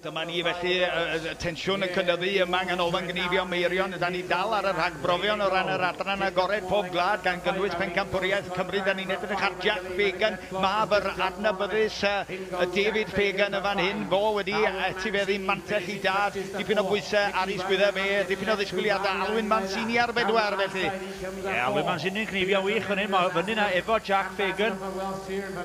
Dyma ni felly, y tensiwn yn cynyddu yma yng Nghanolfan Gneifio Meirion. Da ni dal ar y rhagbrofion o ran yr adran agored pob gwlad, gan gynnwys Pencampwriaeth Cymru. Da ni'n edrych ar Jack Fagan, mab yr adnabyddus David Fagan yn fan hyn. Fo wedi etifeddu mantell i dad, dipyn o bwysau ar ei sgwyddau fe, dipyn o ddisgwyliadau. Alwyn Mancini ar bedwar felly. Ie, Lwydman Sinding, cnifio'n wych fan hyn, mae o fyny 'na efo Jack Fagan.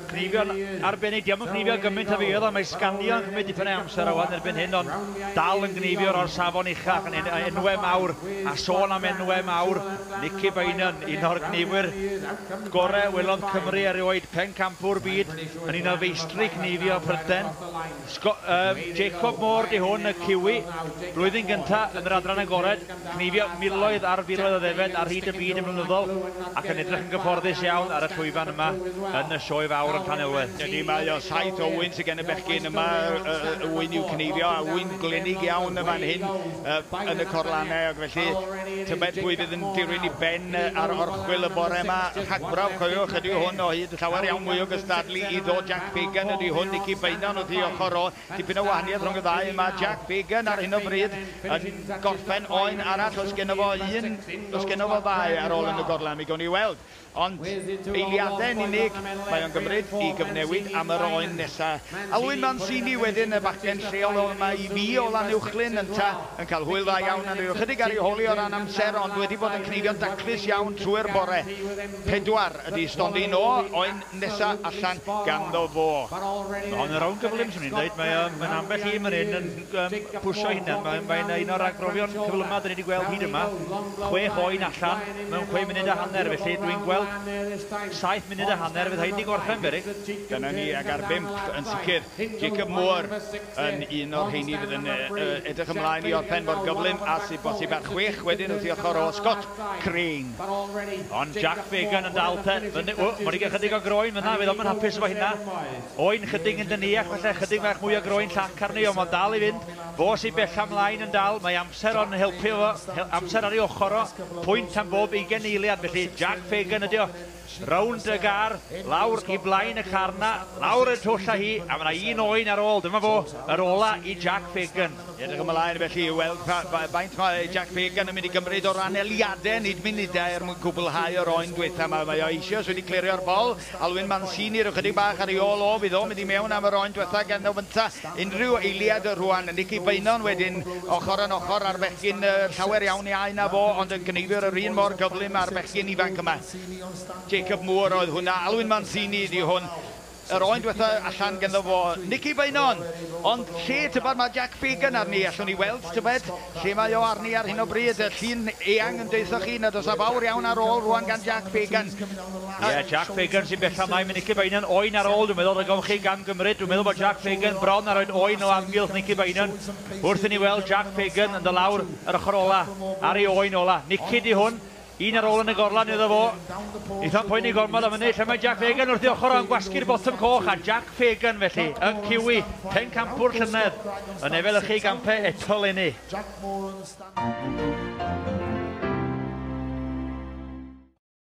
Cnifio'n arbennig, 'di o'm yn cnifio gymaint a fi oedd o, mae sganio yn cymryd dipyn o amser ŵan erbyn hyn, ond dal yn gneifio o'r safon uchaf fan hyn, enwau mawr, a sôn am enwau mawr, Nicky Beynon, un o'r gneifwyr gorau welodd Cymru erioed, pencampwr byd, yn un o feistri cneifio Prydain. Sgo- yy Jacob Moore 'di hwn, y Kiwi, blwyddyn gynta' yn yr Adran Agored. Cneifio miloedd ar filoedd o ddefaid ar hyd y byd yn flynyddol ac yn edrych yn gyfforddus iawn ar y llwyfan yma yn y Sioe Fawr yn Llanelwedd. Ydy, mae o, saith o wŷn sy gen y bechgyn yma, y wŷn i'w cneifio, a wŷn glynig iawn yn fan hyn yn y corlanau, ac felly tybed pwy fydd yn dirwyn i ben ar orchwyl y bore yma? Rhagbrawf, cofiwch, ydy hwn o hyd, llawer iawn mwy o gystadlu i ddo Jack Fagan ydy hwn, Nicky Beynon wrth ei ochr o, Dipyn o wahaniaeth rhwng y ddau, mae Jack Fagan ar hyn o bryd yn gorffen oen arall, oes geno fo un, oes geno fo ddau ar ôl yn y gorlan, mi gown ni weld. Ond eiliadau yn unig mae o'n gymryd i gyfnewid am yr oen nesa. Alwyn Mancini wedyn, y bachgen lleol o yma i fi o Lanuwchllyn, yntau, yn cael hwyl dda iawn a ryw ychydig ar ei holi o ran amser ond wedi bod yn cneifio'n daclus iawn trwy'r bore. Pedwar ydi stondin o oen. nesa allan ganddo fo. Mae hon yn rownd gyflym, swn i'n dweud. Mae o, mae'n ambell i fan hyn yn um, pwysio hunan. Mae'n mae un o'r agrofion cyflymaf dyn ni wedi gweld hyd yma. Chwech oen allan mewn chwe munud a hanner, felly dwi'n gweld saith munud a hanner fydd hyn wedi gorffen, Berig. Dyna ni, ag ar bimp yn sicr. Jacob Moore yn un o'r rheini fydd yn edrych ymlaen i orffen mor gyflym a sydd bosib a'r chwech wedyn wrth i ochr o Scott Crane. Ond Jack Fagan yn dal te fyny, ww, ma' 'di gael chydig o groen fyna, fydd o'm yn hapus efo hynna. Oen chydig yn dyniach falle, chydig fach mwy o groen llac arni ond ma'n dal i fynd, fo sy bella mlaen yn dal, mae amser o'n helpu fo, amser ar ei ochr o, pwynt am bob ugen eiliad, felly Jack Fagan ydi o, Rownd y gar, lawr i blaen y car 'na, lawr y twll â hi, a ma' 'na un oen ar ôl, dyma fo, yr ola i Jack Fagan. Edrych ymlaen felly i weld pa faint mae Jack Fagan yn mynd i gymryd o ran eliade, nid munudau, er mwyn cwblhau yr oen dwetha 'ma. Mae o eisioes wedi clirio'r bol, Alwyn Mancini ryw chydig bach ar ei ôl o, fydd o'n mynd i mewn am yr oen dwetha gan o fynta unrhyw eiliad rhwan. Nicky Beynon wedyn, ochr yn ochr â'r bechgyn, llawer iawn iau na fo, ond yn cneifio yr un mor gyflym â'r bechgyn ifanc yma. Jacob Moore oedd hwnna. Alwyn Mancini ydi hwn. Yr oen dwetha allan ganddo fo Nici Beynon. Ond lle, tybed, mae Jack Fagan arni. Allwn ni weld, tybed, lle mae o arni ar hyn o bryd. Y llun eang yn deuthoch chi nad oes a fawr iawn ar ôl rwan gan Jack Fagan. Ie, Jack Fagan sy'n bell ymlaen. Mae Nici Beynon oen ar ôl, dwi'n meddwl, rhag ofn chi gamgymryd. Dwi'n meddwl bod Jack Fagan bron ar oed oen o amgylch Nici Beynon. Wrth i ni weld Jack Fagan yn dod lawr yr ochr ola, ar ei oen ola. Nici ydi hwn. Un ar ôl yn y gorlan iddo fo. Eitha'n poeni gormod am hynny. Lle mae Jack Fagan wrth ei ochr o am gwasgu'r botwm coch, a Jack Fagan felly yn ciwi pencampwr llynedd yn efelychu gampau eto 'leni.